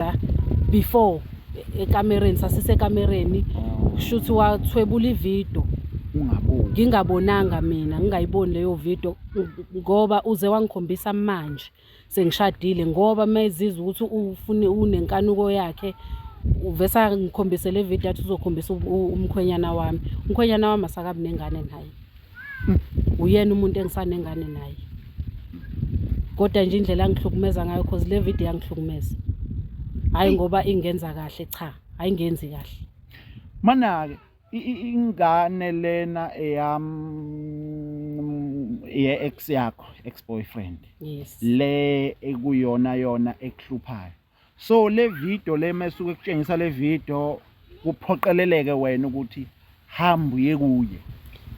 la before e- ekamereni sasisekamereni kushuthi wathwebula ividiyo ungaboni ngingabonanga mina ngingayiboni leyo video ng- ngoba uze wangikhombisa manje sengishadile ngoba mezizwa ukuthi ufune unenkanuko yakhe uvesa ngikhombise le video athi uzokhombisa u- u- umkhwenyana wami umkhwenyana wami asakabi nengane naye uyena umuntu engisanengane naye kodwa nje indlela angihlukumeza ngayo cause le video yangihlukumeza hhayi ngoba ingenza kahle cha hhayi ngenzi kahle mana-ke ingane lena eyam ye-ex yakho ex-boyfriend yes le ekuyona yona ekuhluphayo so le video le mesuke kutshengisa le video kuphoqeleleke wena ukuthi hamba uye kuye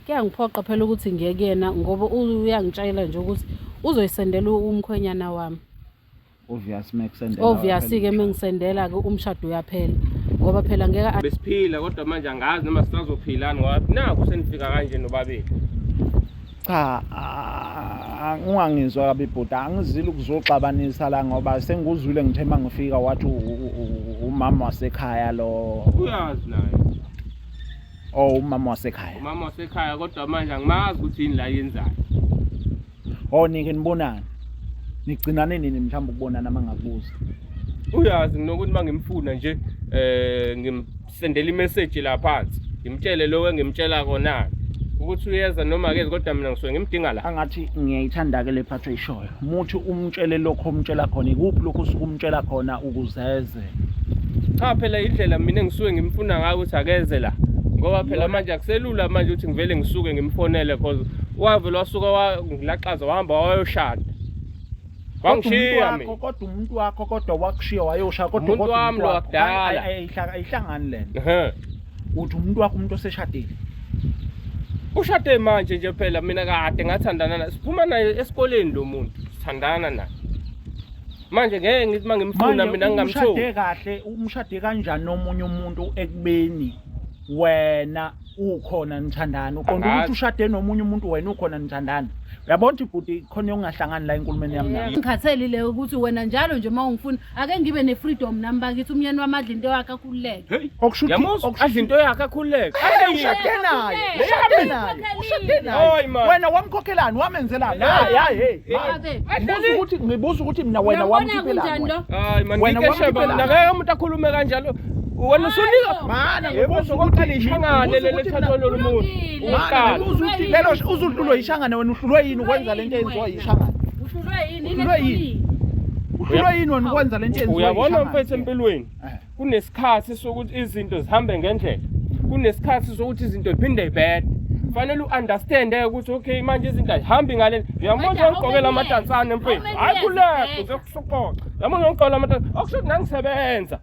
kuyangiphoqa phela ukuthi ngiye kuyena ngoba uyangitshayela nje ukuthi uzoyisendela umkhwenyana wami obvious mekusendela obvious ke mengisendela ke umshado uyaphela ngoba phela ngeke besiphila kodwa manje angazi noma sisazophilani ngoba naku senifika kanje nobabili cha ungangizwa kabi bhuti angizile ukuzoxabanisa la ngoba sengikuzwile ngithe uma ngifika wathi umama wasekhaya lo uyazi naye o oh, umama wasekhaya umama wasekhaya kodwa manje angimazi ukuthi yini la yenzayo o oh, nike nibonani nigcinane nini mhlawumbe ukubonana uma ngakubuza uyazi nginokuthi uma ngimfuna nje um sendela imeseji la phansi ngimtshele lokho engimtshela kona ukuthi uyeza noma akezi kodwa mina ngisuke ngimdinga la angathi ngiyayithanda-ke le phathi oyishoyo muthi umtshele lokho umtshela khona ikuphi lokho usuke umtshela khona ukuzeze cha phela indlela mina engisuke ngimfuna ngayo ukuthi akeze la ngoba phela manje akuselula manje ukuthi ngivele ngisuke ngimfonele cause wavele wasuka wangilaxaza wahamba wayoshada Wangishiya mina. Kodwa umuntu wakho kodwa wakushiya wayosha kodwa umuntu wami lo wakudala. Ayihlangani lento. Uthi umuntu wakho umuntu oseshadile. Ushade manje nje phela mina kade ngathandana naye. Siphuma naye esikoleni lo muntu. Sithandana naye. Manje ngeke ngithi mangimfuna mina ngingamtholi. Manje umshade kahle, umshade kanjani nomunye umuntu ekubeni wena ukhona nithandani uqonda Angazi. ukuthi ushade nomunye umuntu wena ukhona nithandani uyabona ukuthi bhuti khona yokungahlangani la enkulumeni yami nawe ngikhatheli le ukuthi wena njalo nje uma ungifuna ake ngibe ne-freedom nami bakithi umyeni wami adla into yakhe akhululeke Hey, okusho ukuthi- yamuzwa okusho- adla into yakhe akhululeke Hey, ushade naye Hey, ushade hey, naye hey, ushade hey, naye Hayi, man. wena wamkhokhelani wamenzelani Hey, hayi hayi hey, hey. man. Babe, Ngibuza ukuthi ngibuza ukuthi mina wena uyabona kunjani wamkhiphelani lo wena? hayi man Wena ngikeshe wamkhiphelani? bamna ngeke umuntu akhulume kanjalo wena usunika mana ngibuza ukuthi lishangane lelithathwa lolu muntu uqala lelo uzuhlulwe yishangane wena uhlulwe yini ukwenza lento eyenziwa yishangane uhlulwe yini uhlulwe yini uhlulwe yini wena ukwenza lento eyenziwa uyabona mfethu empilweni eh. kunesikhathi sokuthi izinto zihambe ngendlela kunesikhathi sokuthi izinto ziphinde ibhede fanele u-understand eh, ukuthi okay manje izinto ayihambi ngale uyamona ugqokela amadansane mfethu hayi kulekho uzokusuqoqa yamona ugqokela amadansane okusho ukuthi nangisebenza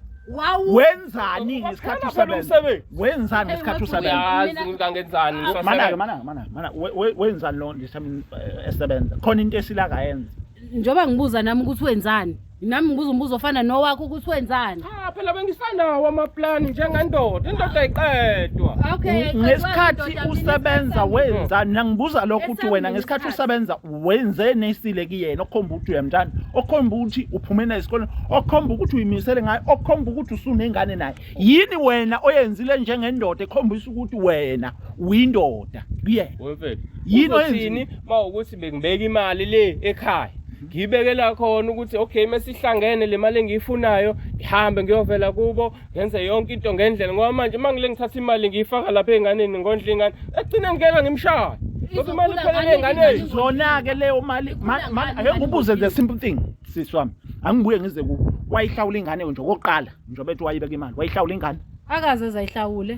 wenzani ngesikhathi usebenza wenzani ngesikhathi usebenza ngangenzani manake manake manake mana wenzani lo ndisami eh, esebenza khona into esila kayenza njoba ngibuza nami ukuthi wenzani nami ngibuza umbuzo ofana nowakho ukuthi wenzani cha phela bengisanawo amaplani njengendoda indoda ayiqedwa okay ngesikhathi usebenza wenzani nangibuza lokho ukuthi wena ngesikhathi usebenza wenze nesile kuyena okhomba ukuthi uyamthanda okhomba ukuthi uphume naye esikoleni okhomba ukuthi uyimisele ngayo okhomba ukuthi usunengane naye yini wena oyenzile njengendoda ekhombisa ukuthi wena uyindoda kuyena wemfethu yini oyenzini mawukuthi bekubeka imali le ekhaya ngiyibekela khona ukuthi okay mesihlangene le mali engiyifunayo ngihambe ngiyovela kubo ngenze yonke into ngendlela ngoba manje uma ngile ngithatha imali ngiyifaka lapha ey'nganeni ngondla iy'ngane ekugcina ngikela ngimshaya ngoba imali iphelele ey'nganeni zona-ke leyo mali ma- ma- ake ngibuze the simple thing sisi wami angibuye ngize ku wayihlawula ingane nje okokuqala njengoba ethi wayibeka imali wayihlawula ingane akaze zayihlawule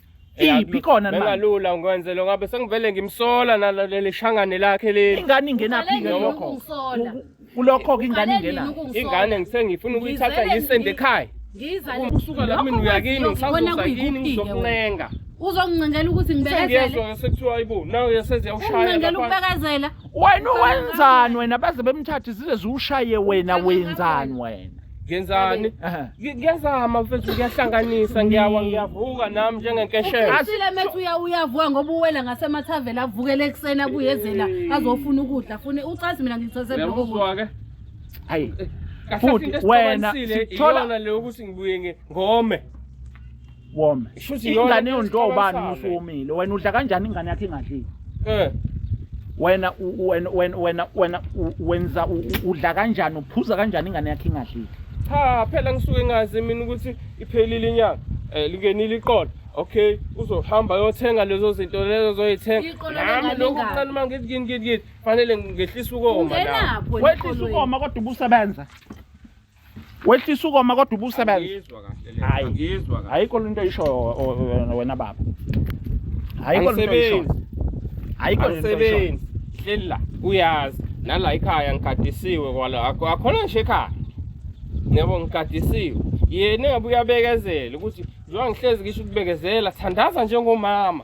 iphi khona manje bengalula ngikwenze lo ngabe sengivele ngimsola naleli shangane lakhe leli ingane ingenaphi ke lokho kulokho ke ingane ingena ingane ngisengifuna ukuyithatha ngiyisende ekhaya ngiza usuka la mina uyakini ngisazoza yini ngizokuncenga uzongincengela ukuthi ngibekezele sekuthiwa ayibo nawe yaseze yawushayela ukubekezela wena wenzani wena baze bemthathe zize ziwushaye wena wenzani wena Ngenzani? Aha. Ngi- Ngiyazama mfethu ngiyahlanganisa ngiyawa ngiyavuka nami njengenkeshela. Asile methu uya uyavuka ngoba uwela ngasemathaveni avukele ekuseni abuyezela azofuna ukudla fune ucazi mina ngithose bloko. Uyamuzwa ke? Hayi. Kahle Futhi into wena esixabanisile sithola- iyona le ukuthi ngibuye nge- ngome. wome Shuthi iyona ingane into yondliwa ubani esixabasana. musu womile wena udla kanjani ingane yakhe ingadlile Eh. wena u- u- wena wena wena wena u- wenza u- u- udla kanjani uphuza kanjani ingane yakhe ingadlile Cha phela ngisuke ngazi mina ukuthi iphelile inyanga. Eh lingenile iqolo. Okay, uzohamba yothenga lezo zinto lezo zoyithenga. Iqolo Nami lengane lokhu ingane. kuncane uma ngithi ngini ngini ngini fanele ngehlisa ukoma la. Ungenapho wehlisa ukoma kodwa ubusebenza wehlisa ukoma kodwa ubusebenza hayi ayikho lento oyisho wena baba ayikho lento oyisho ayikho lento oyisho hleli la uyazi nala ikhaya ngigadisiwe kwala akhona nje ekhaya ngiyabo ngigadisiwe yena engabe uyabekezela ukuthi njengoba ngihlezi ngisho ukubekezela thandaza njengomama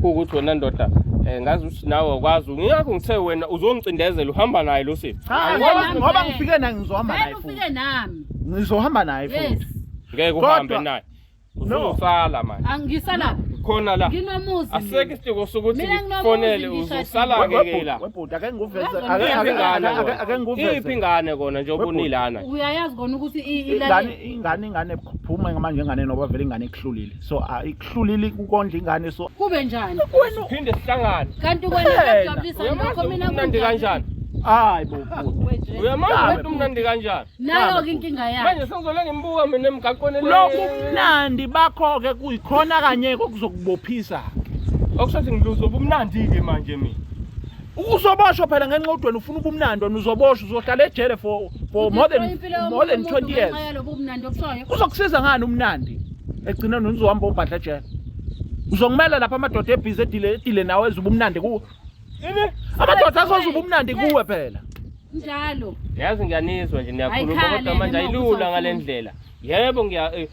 kuwukuthi wena ndoda eh ngazi ukuthi nawe awukwazi ngiyakho ngithe wena uzongicindezela uhamba naye lo sisi Cha, Angikwazi ngoba- nami. ngoba ngifike naye ngizohamba naye Vele futhi ufike nami ngizohamba naye yes futhi ngeke Kodwa- uhambe naye No. uzosala manje angisala khona la nginomuzi aseke isitiko sokuthi Mina nginomuzi ngifonele ngishadile. uzosala We- ngeke webhuti- la webhuti ake ngikuveze Wezwa ake- mina. ake- Iphi ingane ake- kona? ake ngikuveze iphi ingane kona njengoba Webhuti. unilana uyayazi kona ukuthi i- ingane ilale ingane ingane phuma manje ingane noba vele ingane ekuhlulile so ayikuhlulile ukondla ingane so kube njani phinde sihlangane kanti wena kuyajabulisa lokho mina kumnandi kanjani hayi bo uyamazi ukuthi umnandi kanjani nayo ke inkinga yakhe manje sengizole ngimbuka mina emgaqweni lokhu umnandi bakho ke kuyikhona kanye okuzokubophisa okusho ukuthi ngiluzo ubumnandi ke manje mina Uzoboshwa phela ngenxa udweni ufuna ubumnandi wena uzoboshwa uzohlala ejele for for more than more than 20 years. Uzokusiza ngani umnandi? Egcina nozohamba obhadla ejele. Uzongimela lapha amadoda ebhizi edile edile nawe ezuba umnandi kuwe. Amadoda azozuba umnandi kuwe phela. Njalo. Yazi ngiyanizwa nje niyakhuluma kodwa manje ayilula ngalendlela. Yebo ngiya eh,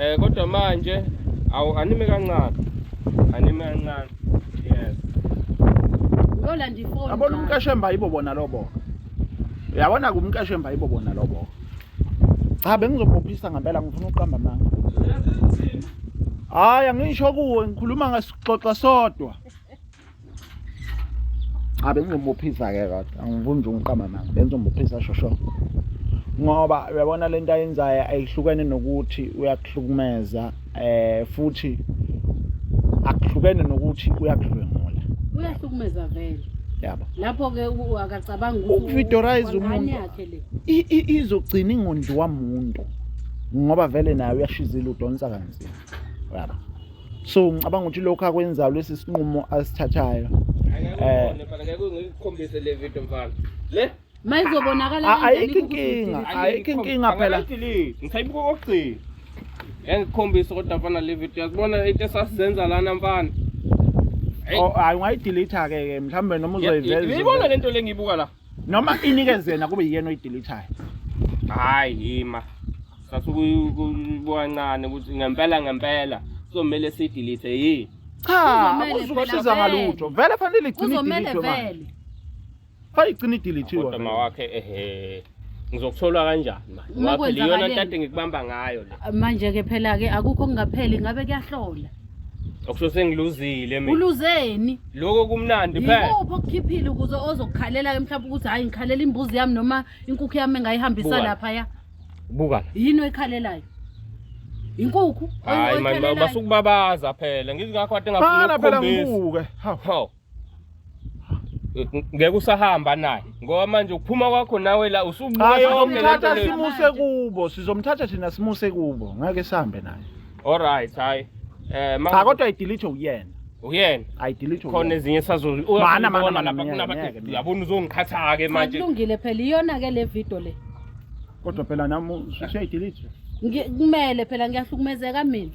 Eh kodwa manje awu anime kancane. Anime kancane. Yes. Lola ndifoni. Abona umkashemba yibo bona lobo. Uyabona kumkashemba yibo bona lobo. Cha bengizobophisa ngempela ngifuna uqamba amanga. Hayi angisho kuwe ngikhuluma ngasixoxa sodwa. Abe ngizomuphisa ke kodwa angivumi nje ungiqama manga bengizomuphisa shosho ngoba uyabona lento ayenzayo ayihlukene nokuthi uyakuhlukumeza eh futhi akuhlukene nokuthi uyakudlwengula uyahlukumeza vele yabo lapho ke akacabanga ukuvitorize umuntu izogcina ingondliwa muntu ngoba vele naye uyashizila udonsa kanzima yabo so ngicabanga ukuthi lokho akwenzayo lesi sinqumo asithathayo eh ngikukhombise le video mfana le mayizobonakala ayikho inkinga ayikho inkinga phela ngisayibuka kokugcina engikhombisa kodwa mfana le video yakubona into esasizenza lana mfana oh, hayi ungayidelete-ke ke mhlawumbe noma uzoyiveza ibona le nto le ngiyibuka la noma inikeze yena kube yiyena oyideletayo hayi yima sasukuyibona ukuthi ngempela ngempela kuzomele siyidelete yini cha uzosiza ngalutho vele fanele igcine idelete manje fanele igcine idelete kodwa mawakhe ehe ngizokuthola kanjani manje ngoba phela iyona ntate ngikubamba ngayo le manje ke phela ke akukho kungapheli ngabe kuyahlola Okusho sengiluzile mina. Uluzeni? Lokho kumnandi phela. Yikuphi okukhiphile ukuze ozokukhalela ke mhlawumbe ukuthi hayi ngikhalela imbuzi yami noma inkukhu yami engayihambisa Buka. lapha ya. Buka la. Yini oyikhalelayo? Inkukhu Hayi mani oyikhalayo. basukubabaza phela. Ngizingakho kade ngafuna Bhala phela ukukhombisa. ngibuke. Hawu. Hawu. ngeke usahamba naye ngoba manje ukuphuma kwakho nawe la usubuyayomthatha simuse kubo sizomthatha thina simuse kubo ngeke sihambe naye alright hayi eh cha kodwa idelete uyena uyena ayidelete khona ezinye sazozibona yabona uzongiqhatha ke manje kulungile phela iyona ke le video le kodwa phela nami usuyayidelete kumele phela ngiyahlukumezeka mina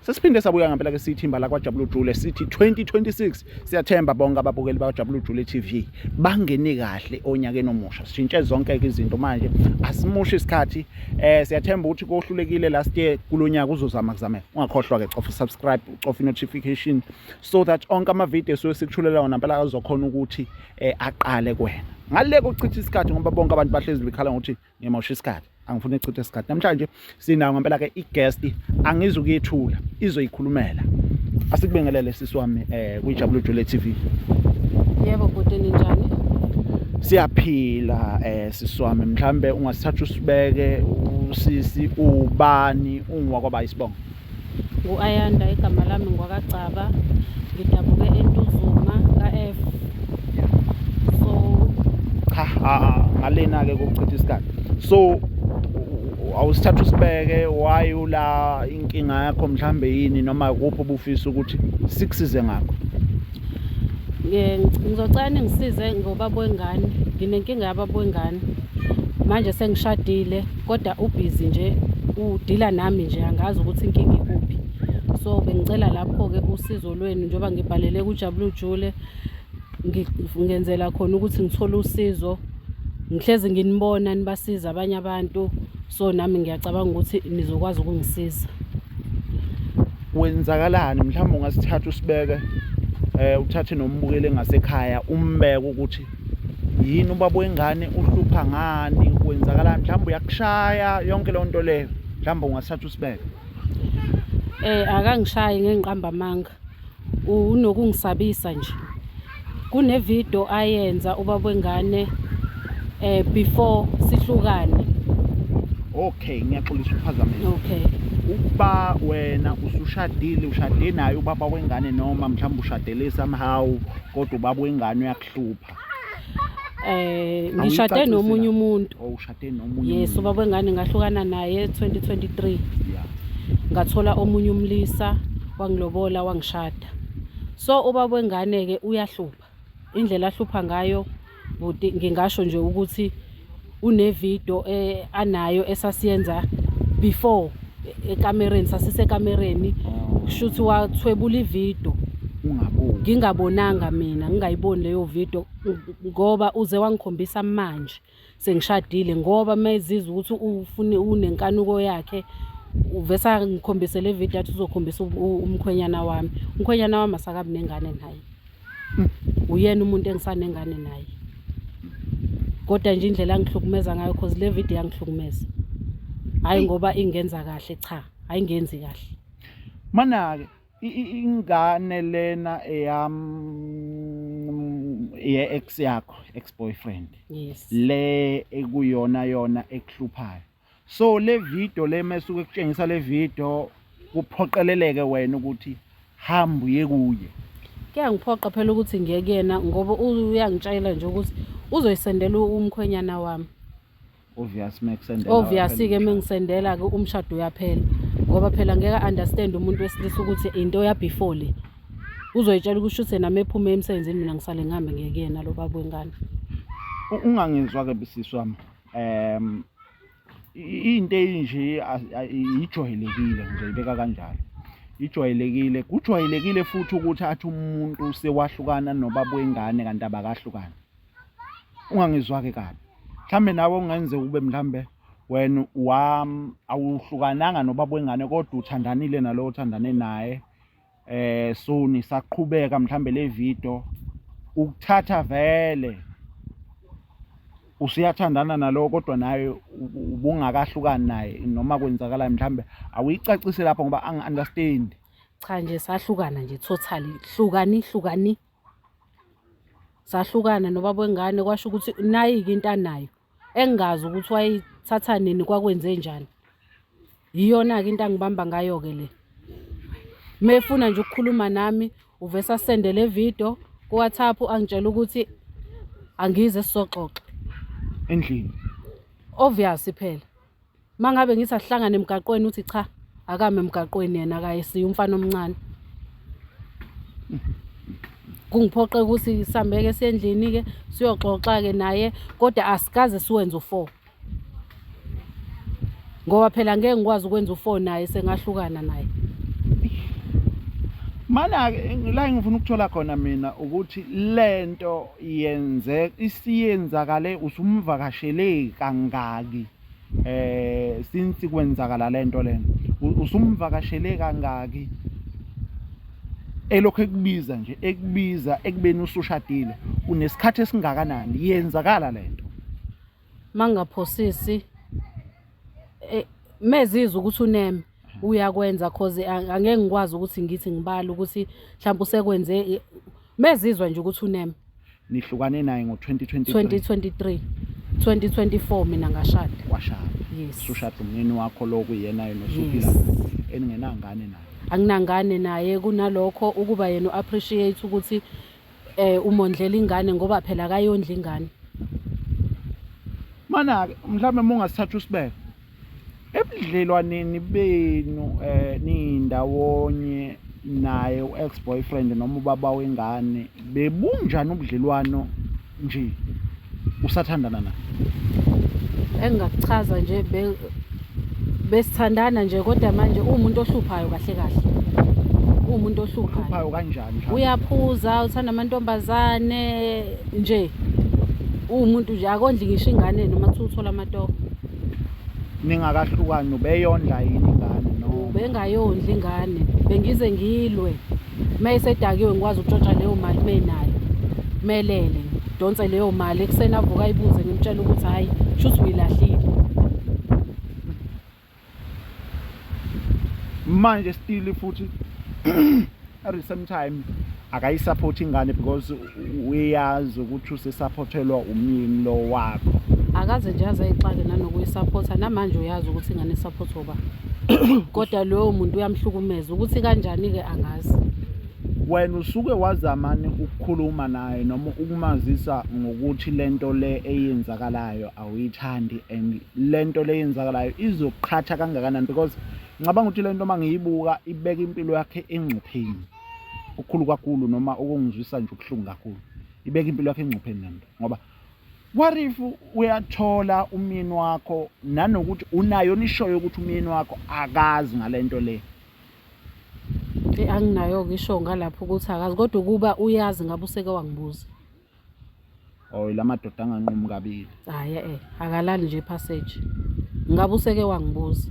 Sesiphinde sabuya ngempela ke sithimba la kwaJabulu Jule sithi 2026 siyathemba bonke ababukeli baJabulu Jule TV bangene kahle onyakeni omusha. Sishintshe zonke izinto manje. Asimushi isikhathi. Eh siyathemba ukuthi kohlulekile last year kulonyaka uzozama kuzame. Ungakhohlwa ke cofa subscribe, cofa notification so that onke ama videos sesikuchulela wona phela azokhona ukuthi eh aqale kuwena. Ngale kokuchitha isikhathi ngoba bonke abantu bahlezi bekhala ngokuthi ngimosha isikhathi angifuni echithe isikhathi namhlanje sinayo ngempela ke i-guest angizukuyethula izoyikhulumela asikubingelele sisi wami eh kuyijabulo jule TV yebo bhuti ninjani siyaphila eh sisi wami mhlambe ungasithatha usibeke usisi ubani ungwakwaba isibongo Ngu-Ayanda igama lami ngwakagcaba ngidabuke entuzuma ka-f so cha ngalena-ke kokuchitha isikhathi so awusithatha usibeke why ula inkinga yakho mhlambe yini noma kuphi obufisa ukuthi sikusize ngakho ngizocela ningisize ngobaba wengane nginenkinga yababa wengane manje sengishadile kodwa ubhizi nje udila nami nje angazi ukuthi inkinga ikuphi so bengicela lapho-ke usizo lwenu njengoba ngibhalele kujabula ujule ngenzela khona ukuthi ngithole usizo ngihlezi nginibona nibasiza abanye abantu so nami ngiyacabanga ukuthi nizokwazi ukungisiza kwenzakalani mhlawumbe ungasithatha usibeke um uthathe nombukeli ngasekhaya umbeke ukuthi yini ubaba wengane uhlupha ngani kwenzakalani mhlawumbe uyakushaya yonke leyo nto leyo mhlawumbe ungasithatha usibeke eh akangishayi ngengiqamba amanga unokungisabisa nje kunevideo ayenza ubaba wengane eh before sihlukane okay ngiyaxolisa ukuphazamisa okay ukuba wena usushadile ushade naye ubaba wengane noma mhlawumbe ushadele somehow kodwa ubaba wengane hlupha eh ngishade nomunye umuntu oh, ushade nomunye yes ubaba wengane ngahlukana naye 2023 yeah ngathola omunye umlisa wangilobola wangishada so ubaba wengane ke uyahlupha indlela ahlupha ngayo buti ngingasho nje ukuthi unevidio eh, anayo esasiyenza before e- ekamereni sasisekamereni kushuthi wathwebula ividio ungaboni ngingabonanga mina ngingayiboni leyo video ngoba uze wangikhombisa manje sengishadile ngoba mezizwa ukuthi ufune unenkanuko yakhe uvesa ngikhombise le video athi uzokhombisa u- u- umkhwenyana wami umkhwenyana wami asakabi nengane naye uyena umuntu engisanengane naye kodwa nje indlela angihlukumeza ngayo cause le video yangihlukumeza hayi ngoba ingenza kahle cha hayi ngenzi kahle manake ingane lena eyam ye ex yakho ex boyfriend yes le ekuyona yona ekuhluphayo so le video le mesuke kutshengisa le video kuphoqeleleke wena ukuthi hamba uye kuye kuyangiphoqa phela ukuthi ngiye kuyena ngoba uyangitshayela nje ukuthi uzoyisendela umkhwenyana wami obvious mekusendela obvious ke mengisendela ke umshado uyaphela ngoba phela ngeke understand umuntu wesilisa ukuthi into ya before le uzoyitshela ukuthi uthe nami ephume emsebenzini mina ngisale ngihambe ngekuyena lo baba wengane ungangizwa ke bisisi wami um into eyinje ijwayelekile ngizayibeka kanjalo ijwayelekile kujwayelekile futhi ukuthi athi umuntu sewahlukana nobaba wengane kanti abakahlukani ungangizwa-ke kabi mhlawumbe nawe ungenzeka ube mhlawumbe wena wam awuhlukananga nobaba wengane kodwa uthandanile nalowo othandane naye eh suni saqhubeka mhlambe le video ukuthatha vele usiyathandana nalowo kodwa naye ubungakahlukani naye noma kwenzakalayo mhlambe awuyicacise lapho ngoba angi-understand cha nje sahlukana nje totally hlukani hlukani sahlukana nobaba wengane kwasho ukuthi nayi-ke into anayo engingazi ukuthi wayithatha nini kwakwenze njani yiyona-ke into angibamba ngayo-ke le mefuna nje ukukhuluma nami uvese asende le video kuwhatsapp angitshela ukuthi angize sizoxoxa endlini obvious phela Uma ngabe ngithi asihlangane emgaqweni uthi cha akame emgaqweni yena akayesiye umfana omncane. Kungiphoqe ukuthi sihambeke esendlini-ke siyoxoxa-ke naye kodwa asikaze siwenze u-four. Ngoba phela ngeke ngikwazi ukwenza u-four naye sengahlukana naye. Mana-ke la engifuna ukuthola khona mina ukuthi le nto yenze isiyenzakale usumvakashele kangaki? eh since kwenzakala lento lena usumvakashele kangaki elokho ekubiza nje ekubiza ekubeni usushadile unesikhathi esingakanani yenzakala lento mangaphosisi eh mezizwa ukuthi uneme uyakwenza cause ang- angeke ngikwazi ukuthi ngithi ngibale ukuthi mhlawumbe usekwenze i- mezizwa nje ukuthi uneme nihlukane naye ngo-2023 2023 2024 mina ngashada washada yes usushada umnini wakho lo kuyena yena osuphila Yes. naye, eningenangane naye anginangane naye kunalokho ukuba yena u-appreciate ukuthi eh umondlela ingane ngoba phela akayondla ingane mana-ke mhlawumbe uma ungasithatha usibeka Ebudlelwaneni benu eh nindawonye naye u-ex boyfriend noma ubaba wengane bebunjani ubudlelwano nje usathandana naye engingakuchaza nje be- besithandana nje kodwa manje uwumuntu ohluphayo kahle kahle uwumuntu ohluphayo uhluphayo kanjani mhlawumbe? uyaphuza uthanda amantombazane nje uwumuntu nje akondli ngisho ingane noma kuthiwa uthola amatoho ningakahlukani ubeyondla yini ingane no ubengayondli ingane bengize ngilwe uma esedakiwe ngikwazi ukutshontsha leyo mali uma enayo melele ngidonse leyo mali ekuseni avuka ayibuze ngimtshela ukuthi hhayi shuthi uyilahlile manje stili futhi at the same time akayisaphothi ingane because uyazi ukuthi usesaphothelwa umyeni lo wakho akaze nje aze ayixake nanokuyisapotha namanje uyazi ukuthi ingane isaphothwa ba kodwa loyo muntu uyamhlukumeza ukuthi kanjani-ke angazi wena usuke wazamani ukukhuluma naye noma ukumazisa ngokuthi lento le eyenzakalayo awuyithandi and lento le eyenzakalayo izoqhatha kangakanani because ngicabanga ukuthi le nto uma ngiyibuka ibeka impilo yakhe engcupheni okukhulu kakhulu noma okungizwisa nje ubuhlungu kakhulu ibeka impilo yakhe engcupheni le nto ngoba what if uyathola umyeni wakho nanokuthi unayo nishoyo ukuthi umyeni wakho akazi ngale nto le anginayo-ke isho ngalapho ukuthi akazi kodwa ukuba uyazi ngabe useke wangibuza oy la madoda anganqumi kabili hayi eh akalali nje passage ngabe useke wangibuza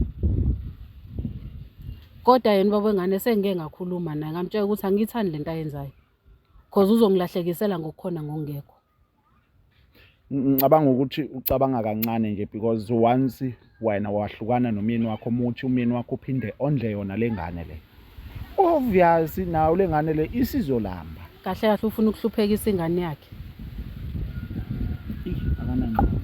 kodwa yena baba wengane sengike ngakhuluma naye ngamtshela ukuthi angiyithandi lento ayenzayo cause uzongilahlekisela ngokukhona ngokungekho ngicabanga ukuthi ucabanga kancane nje because once wena wahlukana nomyeni wakho omuthi umyeni wakho uphinde ondle yona lengane le obvious nawo lengane le isizolamba kahle kahle ufuna ukuhluphekisa ingane yakhe akanangqondo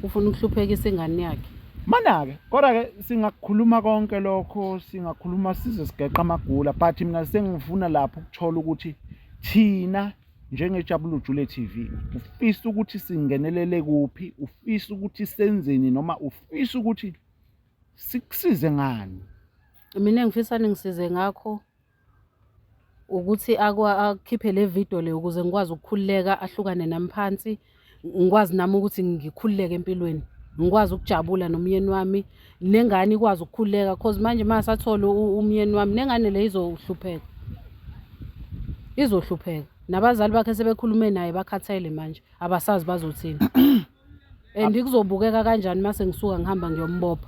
ufuna ukuhluphekisa ingane yakhe mana-ke kodwa-ke singakukhuluma konke lokho singakhuluma size sigeqa amagula but mina sengifuna lapho ukuthola ukuthi thina njengejabulujule TV ufisa ukuthi singenelele kuphi ufisa ukuthi senzeni noma ufisa ukuthi sikusize ngani mina engifisa ningisize ngakho ukuthi akhiphe le video le ukuze ngikwazi ukukhululeka ahlukane nami phansi ngikwazi nami ukuthi ngikhululeke empilweni ngikwazi ukujabula nomyeni wami nengane ikwazi ukukhululeka cause manje uma sathole umyeni wami nengane le izohlupheka izohlupheka nabazali bakhe sebekhulume naye bakhathele manje abasazi bazothini and kuzobukeka kanjani uma sengisuka ngihamba ngiyombopha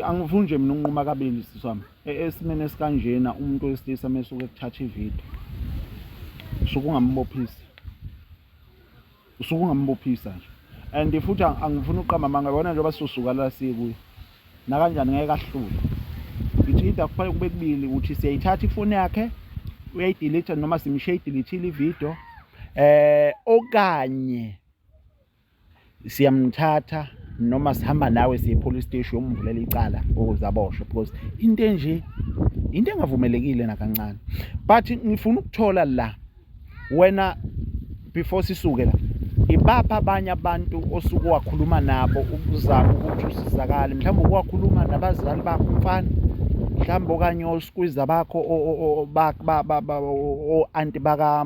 angifuni nje mina unquma kabili sisami E, esimeni esikanjena umuntu wesilisa mesuke kuthatha ivideo usuke ungambophisi usuke ungambophisa nje and futhi angifuni uqamba amanga yona njengoba sizosuka la sikuyo nakanjani ngeke ahlule ngithi into akufanele kube kubili ukuthi siyayithatha ifoni yakhe uyayidelete noma simshiya idilithile ividiyo um eh, okanye siyamthatha noma sihamba nawe siye police station umvulela icala ukuze aboshwe because into enje into engavumelekile nakancane but ngifuna ukuthola la wena before sisuke la ibapha abanye abantu osuke wakhuluma nabo ukuzama ukuthi usizakale mhlawumbe ukuwakhuluma nabazali bakho mfana mhlawumbe okanye osikwiza bakho o-anti baka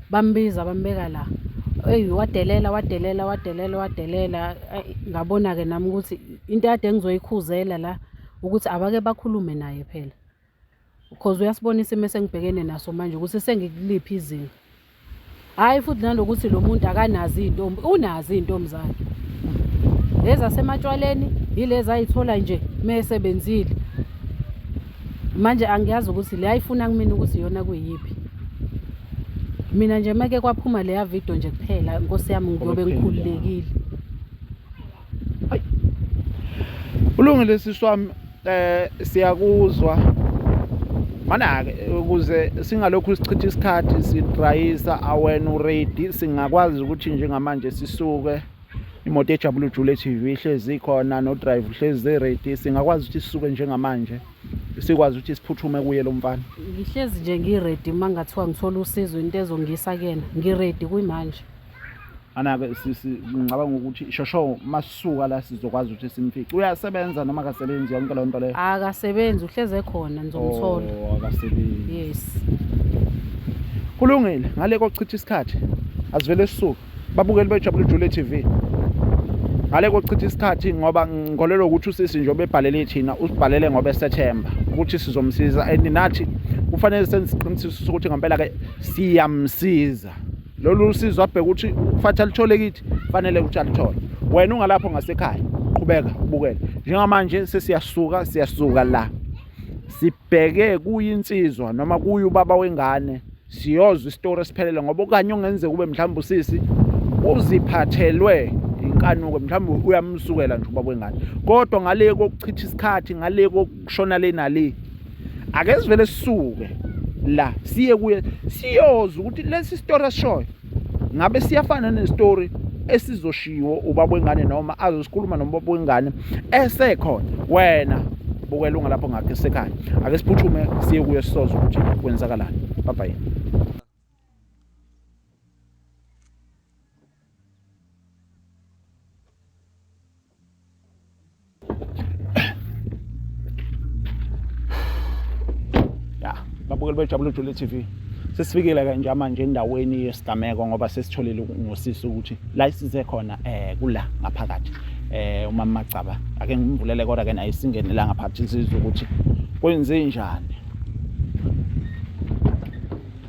Bambiza bambeka la. Eyi wadelela wadelela wadelela wadelela. Ngabona-ke nami ukuthi into yade engizoyikhuzela la ukuthi abake bakhulume naye phela. Because uyasibona isimo esengibhekene naso manje ukuthi sengikuliphi izinga. Hhayi futhi nanokuthi lo muntu akanazi iy'ntombi, unazi iy'ntombi zakhe. Lezi asematshwaleni yilezi ayithola nje uma esebenzile. manje angiyazi ukuthi le ayifuna kumina ukuthi iyona kuyiphi mina nje make kwaphuma leya video nje kuphela nkosi yami ngiyobe ngikhululekile ulungile sisi wami eh siyakuzwa mana-ke ukuze singalokhu sichitha isikhathi sidrayisa awena uready singakwazi ukuthi njengamanje sisuke imoto ejabula ujule TV ihlezi khona no drive uhlezi ready singakwazi ukuthi sisuke njengamanje sikwazi ukuthi siphuthume kuye lo mfana ngihlezi nje ngiready uma ngathiwa ngithola usizo into ezongisa kena ngiready kuyimanje anake ngicabanga ukuthi shosho masuka la sizokwazi ukuthi simfice uyasebenza noma akasebenzi yonke loo nto leyo akasebenzi uhleze khona ngizomthola oh, akasebenzi yes kulungile ngale kochitha isikhathi asivele sisuke babukeli bejabula ijule TV ngale kochitha isikhathi ngoba ngikholelwa ukuthi usisi nje obebhalele ithina usibhalele ngoba esethemba ukuthi sizomsiza and nathi kufanele senze isiqinisekiso sokuthi ngempela ke siyamsiza lolu usizo abheke ukuthi ufathi alithole kithi fanele ukuthi alithole wena ungalapho ngasekhaya qhubeka ubukele njengamanje sesiyasuka siyasuka la sibheke kuyinsizwa noma kuye ubaba wengane siyozwa isitori esiphelele ngoba okanye ongenzeka ube mhlawumbe usisi uziphathelwe inkanuko mhlawumbe uyamsukela nje ubaba wengane kodwa ngale kokuchitha isikhathi ngale kokushona le nale ake sivele sisuke la siye kuye siyoza ukuthi lesi story asishoyo ngabe siyafana nestory esizoshiwo ubaba wengane noma azosikhuluma nomubaba wengane esekhona wena bukela ungalapho ngakhe sekhaya ake siphuthume siye kuye sisoze ukuthi kwenzakalani bye bye ya babukeli bejabule jule tv sesifikile ke nje manje endaweni yesigameko ngoba sesitholile ngosisi ukuthi la isize khona um kula ngaphakathi eh uma magcaba ake ngimvulele kodwa ke naye singene la ngaphathi sizwe ukuthi kwenze njani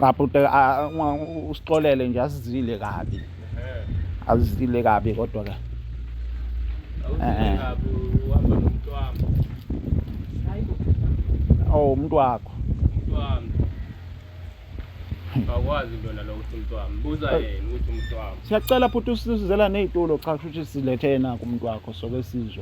cha bhuti usixolele nje asizile kabi azizile kabi kodwa ke eh oh umuntu wakho umuntu wami Akwazi into nalo ukuthi umuntu wami. Buza yena ukuthi umuntu wami. Siyacela futhi usizela nezitulo cha kusho ukuthi silethena kumuntu wakho soke sizwe.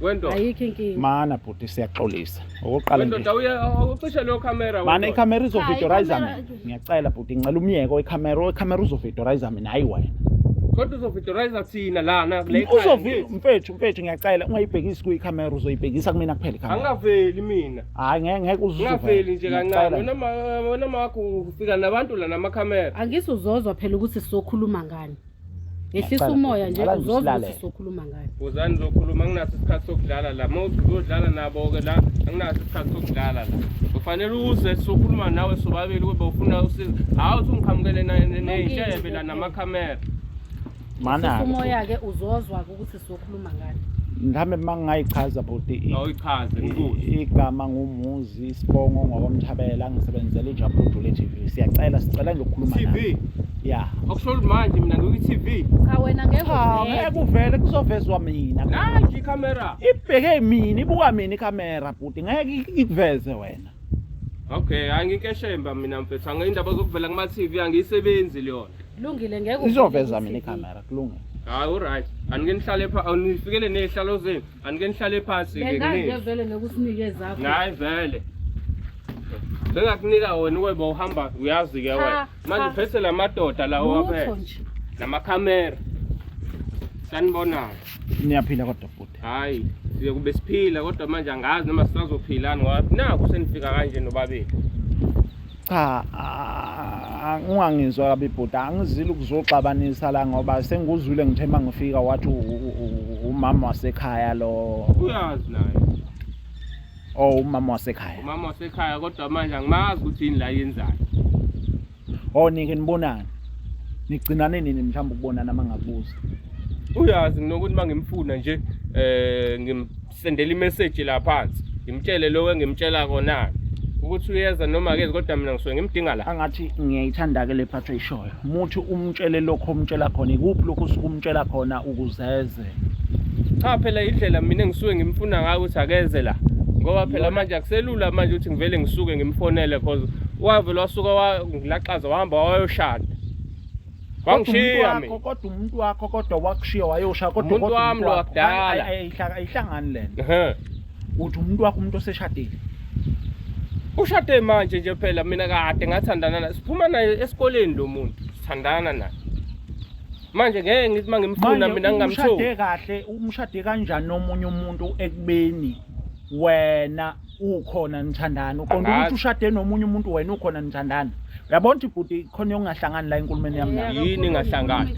Wendoda. Ayikho inkinga. Mana bhuti siyaxolisa. Okokuqala nje. Wendoda uye ucishe leyo camera wena. Mana icamera izovidorize mina. Ngiyacela bhuti ngicela umyeko icamera, icamera uzovidorize mina hayi wena. Kodwa uzovidorize thina lana kule camera. Uzovi mfethu mfethu ngiyacela ungayibhekisi kuyi camera uzoyibhekisa kumina kuphela camera. Angaveli mina. Hayi ngeke ngeke uzuve. Ngaveli nje kancane. Wena ma wena makho ufika nabantu la nama camera. Angisuzozwa phela ukuthi sizokhuluma ngani. Ngehlisa umoya nje uzozwa sokhuluma ngayo. Uzani zokhuluma nginaso isikhathi sokudlala la. Mawuthi uzodlala nabo ke la anginaso isikhathi sokudlala la. Ufanele uze sokhuluma nawe sobabili kube ufuna usizo. Hawu uthi ungiqhamukele neyintshebe la namakhamera. Mana. Umoya ke uzozwa ukuthi sokhuluma ngalo mhlawumbe uma ngingayichaza bhuti i- awuyichaze i- ngikuthi igama ngumuzi isibongo ngokomthabela ngisebenzela ijabulu dule tv siyacela sicela nje ukukhuluma TV nawe. ya okusho ukuthi manje mina ngikwi-TV cha wena ngeke cha uvele. ngeke uvele kuzovezwa mina nanji ikhamera ibheke mina ibuka mina ikhamera bhuti ngeke ikuveze wena Okay, anginkeshemba mina mfethu. Angiyindaba zokuvela kuma TV angiyisebenzi leyona. Kulungile ngeke uvele Izoveza ku-TV. mina ikamera kulungile. Hayi alright. Anike nihlale phansi, awunifikele nezihlalo zenu. Anike nihlale phansi ke Bengake kunini. vele nokusinike zakho. Hayi vele. Bengakunika wena uweba uhamba uyazi ke wena. Cha, manje uphethe la madoda lawo Lutho waphethe nje. namakhamera sanibonana niyaphila kodwa bhuti hayi siye kube siphila kodwa manje angazi noma sisazophilani ngoba naku senifika kanje nobabili cha ah, ungangizwa kabi bhuti angizile ukuzoxabanisa la ngoba sengikuzwile ngithe uma ngifika wathi u- u- u- umama wasekhaya lo uyazi naye Oh umama wasekhaya. Umama wasekhaya kodwa manje angimazi ukuthi yini la yenzayo. Oh nike nibonana. Nigcinane nini mhlawumbe ukubonana mangabuza. Uyazi nginokuthi mangimfuna nje eh ngimsendela imessage la phansi. Ngimtshele lokho engimtshela kona ukuthi uyeza noma akezi kodwa mina ngisuke ngimdinga la. Angathi ngiyayithanda ke le phatho ishoyo. Muthi umtshele lokho omtshela khona ikuphi lokho usukumtshela khona ukuzeze. cha phela indlela mina ngisuke ngimfuna ngayo ukuthi akeze la ngoba phela manje akuselula manje ukuthi ngivele ngisuke ngimfonele cause wavele wasuka wangilaxaza wahamba wayoshada wangishiya mina kodwa umuntu wakho kodwa wakushiya wayosha kodwa umuntu wami lo wakudala ayihlangani lena uthi umuntu wakho umuntu oseshadile ushade manje nje phela mina kade ngathandana naye siphuma naye esikoleni lo muntu sithandana naye manje ngeke ngithi uma ngimfuna mina ngingamthola umshade kahle umshade kanjani nomunye umuntu ekubeni wena ukhona nithandana uqonda ukuthi ushade nomunye umuntu wena ukhona nithandana uyabona ukuthi bhuti khona yokungahlangani la enkulumeni yami nayo yini ingahlangani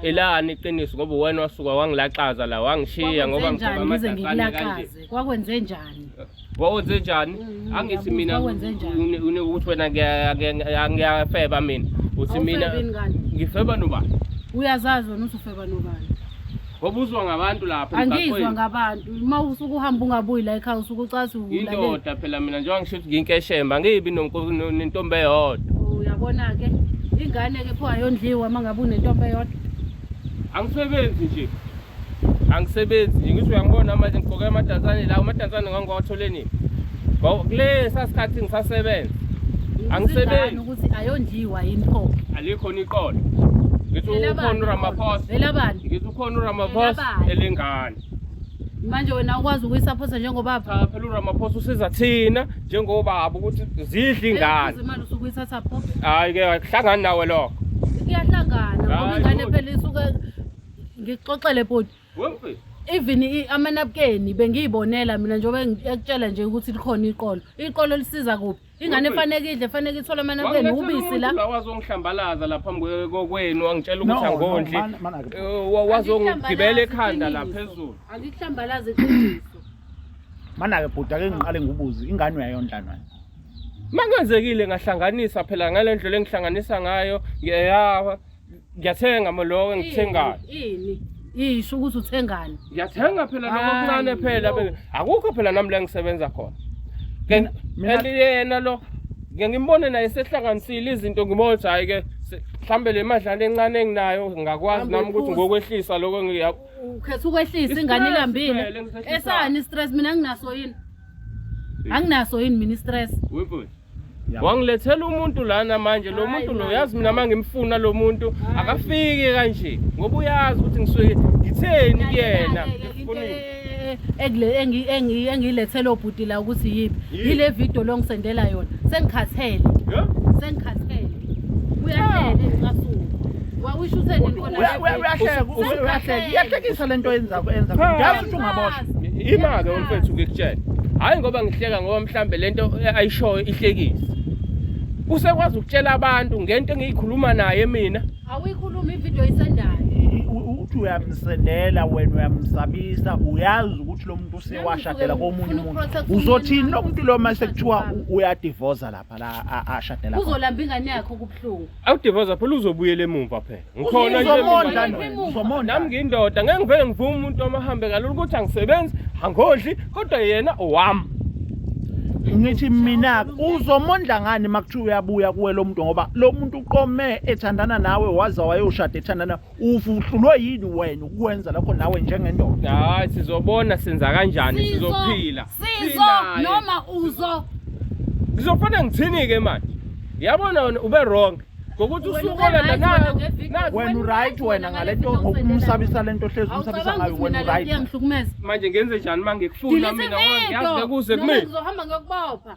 elani iqiniso ngoba wena wasuka wangilaxaza la wangishiya ngoba ngicabanga ngize ngikulaxaze kwakwenze njani Wawenze njani? Mm, Angithi mina uyabuza, wawenze njani? une- une- ukuthi wena ngiya- ngiya- ngiyafeba mina. Uthi mina Awufebeni kanti? ngifeba nobani? uyazazi wena usufeba nobani Wabuzwa ngabantu lapha angizwa emgaqweni. ngabantu uma usuke uhamba ungabuyi la ekhaya usuke ucathi ulalele Indoda phela mina njengoba ngisho ukuthi nginkeshemba angibi nonko- no- nentombi eyodwa. uyabona-ke ingane-ke pho ayondliwa uma ngabe unentombi eyodwa Angisebenzi nje. angisebenzi nje ngithi uyangibona manje ngigqoke amadansane la amadansane ngangiwathole nini kule sasikhathi ngisasebenza angisebenzi ukuthi ayondliwa yini pho alikho niqolo ngithi ukhona uRamaphosa elabani ngithi ukhona uRamaphosa elengane manje wena ukwazi ukuyisaphosa njengobaba cha phela uRamaphosa usiza thina njengobaba ukuthi zidle ingane imali usukuyithatha pho hayi ke akuhlangani nawe lokho iyahlangana ngoba ingane phela isuke ngixoxele bhuti even amanabukeni bengiyibonela mina njengoba ekutshela nje ukuthi likhona iqolo iqolo lisiza kuphi ingane efaneke idle efaneke ithole amanabukeni ubisi la wazongihlambalaza la phambi kokwenu wangitshela ukuthi angondli eh, wazongigibela ekhanda la phezulu angikuhlambalaza iqiniso manake bhuti ake ngiqale ngibuze ingane uyayondlanwana mangenzekile ngahlanganisa phela ngalendlela engihlanganisa ngayo ngiyayawa ngiyathenga mo lokho engithengayo ini isho ukuthi uthengani ngiyathenga phela lokho Hayi, okuncane phela yo. be- akukho phela nami la ngisebenza khona Mina- mina- kanti yena lo ngiye ngimbone naye sehlanganisile izinto ngibona ukuthi hhayi ke se- mhlawumbe le madlana encane enginayo ngingakwazi Hamba nami ukuthi uphuze. ngokwehlisa lokho ngiya ukhetha ukwehlisa ingane Istress ilambile phela engisehlisayo. esani stress mina nginaso yini anginaso yini mina istress wangilethela umuntu lana manje lo muntu lo yazi mina uma ngimfuna lo muntu akafiki kanje ngoba uyazi ukuthi ngisuke ngitheni kuyena engiyilethele obhuti la ukuthi yiphi yile video longisendela yona sengikhathele sengikhathele iyahlekisa le nto yenza yenza ngiyazi ukuthi ungaboshwa ima-ke umfethu ngikutshela hhayi ngoba ngihleka ngoba mhlawumbe le nto ayishoyo ihlekise usekwazi ukutshela abantu ngento engiyikhuluma naye mina awuyikhuluma ividiyo isendayo uthi uyamsendela wena uyamsabisa uyazi ukuthi lo muntu usewashadela komunye umuntu uzothini lo muntu lo mase kuthiwa uyadivoza lapha ashadela uzolamba ingane yakhe okubuhlungu awudivoza phela uzobuyela emumva phela ngikhona nami ngiyindoda ngeke ngivele ngivume umuntu omahambe kalula ukuthi angisebenzi angodli kodwa yena owami ngithi mina uzomondla ngani makuthiwa uyabuya kuwe lo muntu ngoba lo muntu uqome ethandana nawe waze wayoshada ethandana uvutlulwe yini wena ukwenza lokho nawe njengendoda hayi sizobona senza kanjani sizophila sizo noma uzo ngizofana ngithini ke manje yabona wena ube wrong ngokuthi usukole nanayo wena uright wena ngalento ngokumsabisa lento hlezi umsabisa ngayo wena uright manje ngenze njani mangikufuna mina ngiyazi kuze kimi ngizohamba ngiyokubopha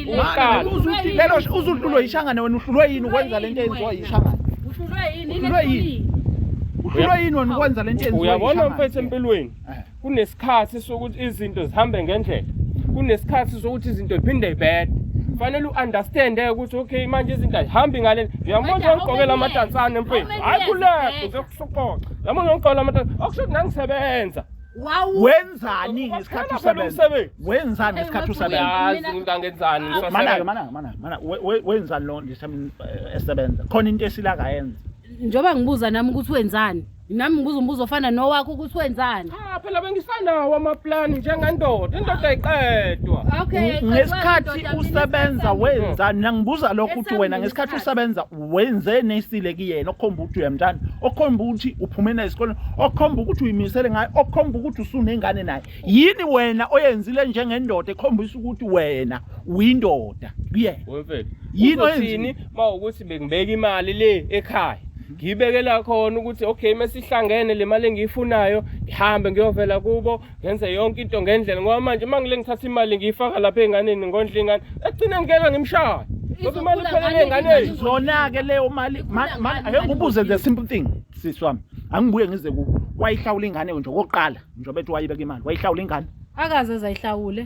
Uqala. Lelo uzuhlulwe yishangane wena uhlulwe yini ukwenza lento eyenziwa yishangane? Uhlulwe yini? Uhlulwe yini? Uhlulwe yini wena ukwenza lento eyenziwa yishangane? Uyabona mfethu empilweni eh. kunesikhathi sokuthi izinto zihambe ngendlela. Kunesikhathi sokuthi izinto ziphinde zibhede. Fanele u-understand eh, ukuthi okay manje izinto azihambi ngale. Uyabona nje ngigqokela amadansane mfethu. Hayi kulapho nje kusoqoqa. Uyabona ngigqokela amadansane. Okusho ukuthi nangisebenza. wenzani ngesikhathi usebenza wenzani ngesikhathi usebenza umuntu angenzani manake manake manake mana wenzani lo eh, esebenza khona into esila kayenza njengoba ngibuza nami ukuthi wenzani nami ngibuza umbuzo ofana nowakho ukuthi wenzani cha phela bengisanawo amaplani njengendoda indoda ayiqedwa okay ngesikhathi usebenza wenzani nangibuza lokho ukuthi wena ngesikhathi usebenza wenze nesile kuyena okhomba ukuthi uyamthanda okhomba ukuthi uphume naye esikoleni okhomba ukuthi uyimisele ngayo okhomba ukuthi usunengane naye yini wena oyenzile njengendoda ekhombisa ukuthi wena uyindoda kuyena wemfethu yini oyenzini mawukuthi bekubeka imali le ekhaya ngiyibekela khona ukuthi okay mesihlangene le mali engiyifunayo ngihambe ngiyovela kubo ngenze yonke into ngendlela ngoba manje uma ngile ngithatha imali ngiyifaka lapha enganeni ngondla ingane ekugcina ngikela ngimshaya ngoba imali iphelele enganeni zona-ke leyo mali ake ngibuze the simple thing sisi wami angibuye ngize ku wayihlawula ingane nje okokuqala njengoba ethi wayibeka imali wayihlawula ingane akaze zayihlawule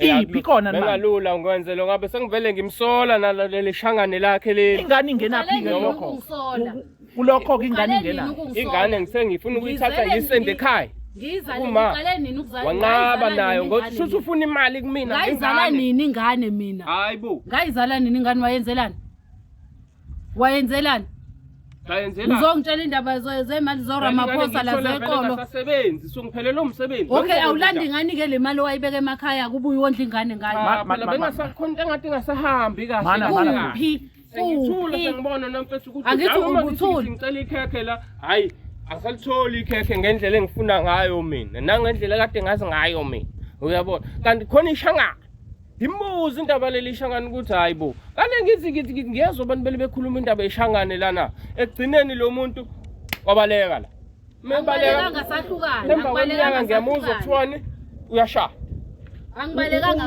iphi kona manje bengalula ngikwenze lo ngabe sengivele ngimsola naleli shangane lakhe leli ingane ingenaphi ke lokho kulokho ke ingane ingena ingane ngisengifuna ukuyithatha ngiyisende ekhaya uma wanqaba nayo ngothi shuthi ufuna imali kumina ngayizala nini ingane mina hayi bo ngayizala nini ingane wayenzelani wayenzelani Ngayenzela. Uzongitshela indaba zo- zemali zoramaphosa la zeqolo Asasebenzi, so ngiphelelwe umsebenzi. okay awulandi ngani ke le mali owayibeka emakhaya kubuye wondla ingane ngayo Ma- ma- ma- bengasakhona into engathi ingasahambi kahle. Mana, mana, mana. kuphi Sengithule kuphi sengibona nomfethu ukuthi Angithi hayi, uma ngithi ubuthuli. ngicela ikhekhe la. Hayi, asalitholi ikhekhe ngendlela engifuna ngayo mina. Nangendlela kade ngazi ngayo mina. Uyabona? Kanti khona ishangana. ngimbuza indaba leli ishangane ukuthi hayi bo kane ngithi ngithi ngithi ngiyezwa abantu bele bekhuluma indaba yeshangane lana ekugcineni lo muntu wabaleka la mebaleka emva kweminyaka ngiyamuzwa kuthiwani uyashaya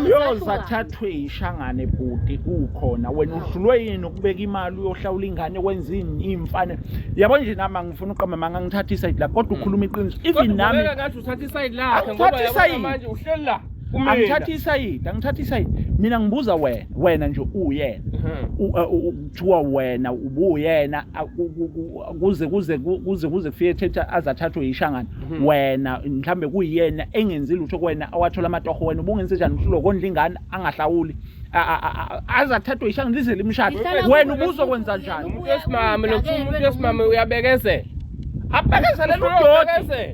uyozathathwe yishangane bhuti ukhona wena udlulwe yini ukubeka imali uyohlawula ingane kwenzini iyimfane yabo nje nami angifuna uqamba manga ngithatha isayidi lakho kodwa ukhuluma iqiniso even nami uthatha isayidi lakhe ngoba yabo manje uhleli la Kumina. angithathi isayidi angithathi isayidi mina ngibuza wena wena nje uwuyena Mhm. U- uh, u- u- kuthiwa wena ubuwuyena a- ku- ku- ku- kuze kuze ku- kuze kuze kufike thetha azathathwe yishangana Mhm. wena mhlambe kuyiyena engenzi lutho kuwena awathola amatoho wena ubungenze njani ukuthi lokondla ingane angahlawuli A- a- a- a- azathathwe yishangana lize limshade Ihlala wena kuwe ubuzokwenza lokhu, njani umuntu wesimame lokuthiwa umuntu wesimame uyabekezela abekezelele udoda Uyabekezela.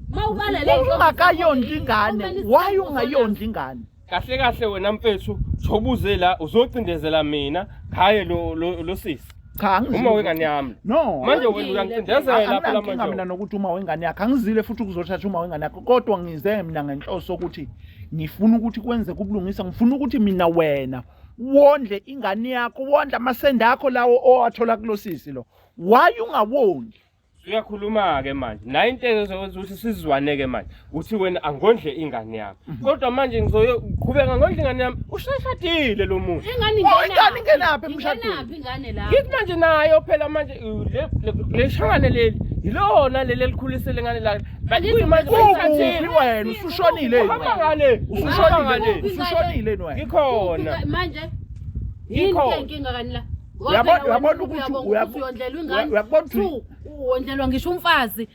ungakayondli ingane why ungayondli ingane kahle kahle wena mfethu thobuze la uzocindezela mina khaye lo lo, lo sisi cha angizile. uma wengane yami no manje wena uyangicindezela phela anginankinga mina manje nokuthi uma wengane yakhe angizile futhi ukuzothatha uma wengane yakhe kodwa ngize mina ngenhloso ukuthi ngifuna ukuthi kwenze kubulungisa ngifuna ukuthi mina wena wondle ingane yakho wondle amasende akho lawo owathola kulosisi lo why ungawondli uyakhuluma-ke manje naye into ezowenza ukuthi sizwane-ke manje uthi wena angondle ingane yami mhm. kodwa manje ngizoqhubeka ngondle ingane yami ushashadile lo muntu ingane ingenaphi emshadweni ngithi manje nayo phela manje le shangane leli yilona leli elikhulisele ngane lakhe kuyimanje wena usushonile usushonile usushonile wena ngikhona manje yini inkinga kanila Uyabona uyabona ukuthi uyabona ukuthi wondlelwa ngisho umfazi.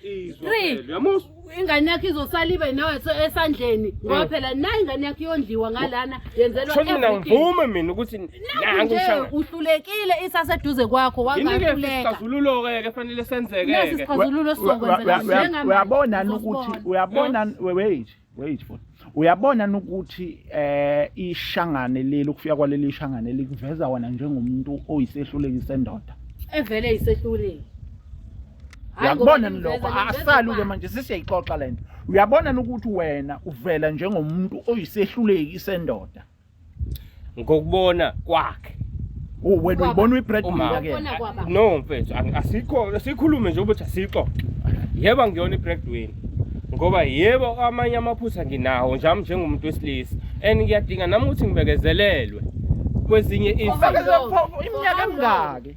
Three. Uyamuzwa? ingane yakho izosala ibe nawe esandleni mm. ngoba phela nayo ingane yakho iyondliwa ngalana yenzelwa Shoni mina ngivume mina ukuthi nangu shaka. uhlulekile isaseduze kwakho wangahluleka isixazululo ke ke fanele senzeke. Nasi isixazululo sokwenza Uyabona ukuthi uyabona wait. wait for uyabona ukuthi eh ishangane leli ukufika kwaleli shangane likuveza wena njengomuntu oyisehluleki sendoda evele isehluleki uyakubona lokho asaluke manje sisiyayixoxa lento uyabona ukuthi wena uvela njengomuntu oyisehluleki sendoda ngokubona kwakhe Oh, wena Kwaba. uyibona uyi-bread Uma. winner ke Ubona kwaba. no mfethu ang- asikho sikhulume nje ukuthi asixoxe yebo ngiyona i-breadwin ngoba yebo amanye amaphutha nginawo njami njengomuntu wesilisa and ngiyadinga nami ukuthi ngibekezelelwe kwezinye izinto Ufakeze iminyaka emingaki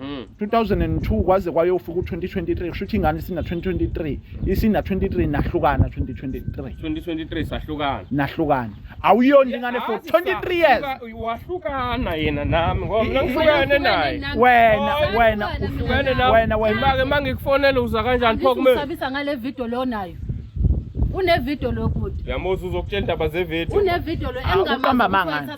Hmm. 2002 kwaze kwayofika u-2023 kusho ukuthi ingane isina-2023 isina-23 nahlukana 2023 2023 sahlukana nahlukana awuyona nje ingane for 23 years wahlukana yena nami ngoba mina ngihlukene naye wena Oy, wena Uhlukene uhlukene nawe. wena wena Make mangikufonela uza kanjani pho kumina Usabisa ngale video lo nayo. Une video lo bhuti. yamuzi uzokutshela indaba zevideo Une video lo Ah, uqamba amanga.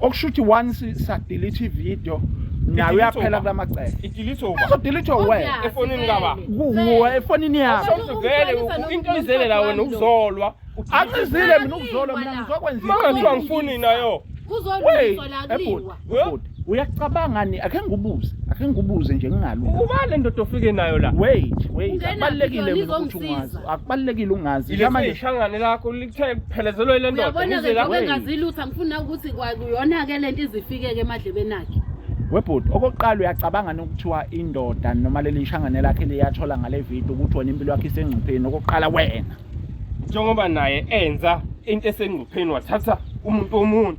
okusho ukuthi once sadelete ivideo nayo uyaphela kula macele izodilithwa wena efonini kaba kuwe efonini yakho vele inkinizele la wena ukuzolwa ancizile mina ukuzolwa mina ngizokwenza kuthiwa ngifuni nayo uyacabanga ni akhe ngibuze akhe ngibuze nje ngingalu uba le ndoda ofike nayo la wait wait akubalekile ukuthi ungazi akubalekile ungazi manje ishangane lakho Kuthe kuphelezelwe le ndoda. uyabona-ke ngizwe la- njengoba engazi lutho angifuna ukuthi kwa- kuyona-ke le nto izifikeke emadlebeni akhe webhuti okokuqala uyacabanga nokuthiwa indoda noma leli shangane lakhe liyathola ngale video ukuthi wena impilo yakhe isengcupheni okokuqala wena Njengoba naye enza into esengcupheni wathatha umuntu womuntu.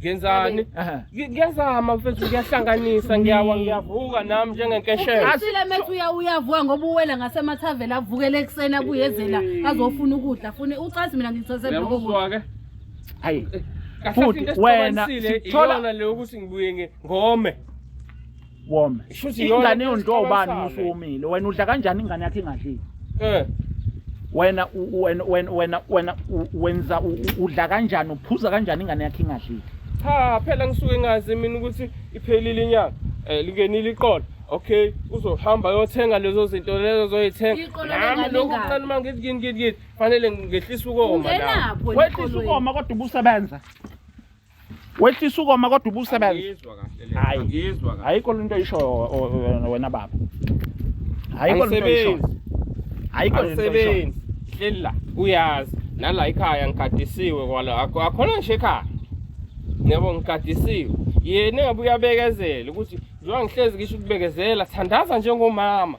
ngenzani Aha. Ngi- ngiyazama mfethu ngiyahlanganisa ngiyawa ngiyavuka nami njengenkeshela Asile methu uya uyavuka ngoba uwela ngasemathaveni avukele ekuseni abuyezela azofuna ukudla fune ucathi mina ngithose lokho. uyamuzwa-ke Hayi. kahle Futhi into wena esixabanisile sithola- iyona le yokuthi ngibuye ngi- ngome wome Shuthi yona ingane yondwa ubani isixabasane. musu womile wena udla kanjani ingane yakhe ingadlile Eh, wena u- u- wena wena wena wena u- wenza u- u- udla kanjani uphuza kanjani ingane yakhe ingadlile cha phela ngisuke ngazi mina ukuthi iphelile inyanga eh lingenile iqolo okay uzohamba yothenga lezo zinto lezo zoyithenga Iqolo nami lengane lokhu ingaka. kuncane uma ngithi ngini ngini ngini fanele ngehlisa ukoma nami ungenapho wehlisa ukoma kodwa ubusebenza wehlisa ukoma kodwa ubusebenza hayi ngizwa kahle ayikho lento isho wena baba ayikho lento isho ayikho lento isho hleli la uyazi nala ikhaya ngikadisiwe kwala akhona nje ekhaya yebo ngikadisiwe yena engabe uyabekezela ukuthi njengoba ngihlezi ngisho ukubekezela thandaza njengomama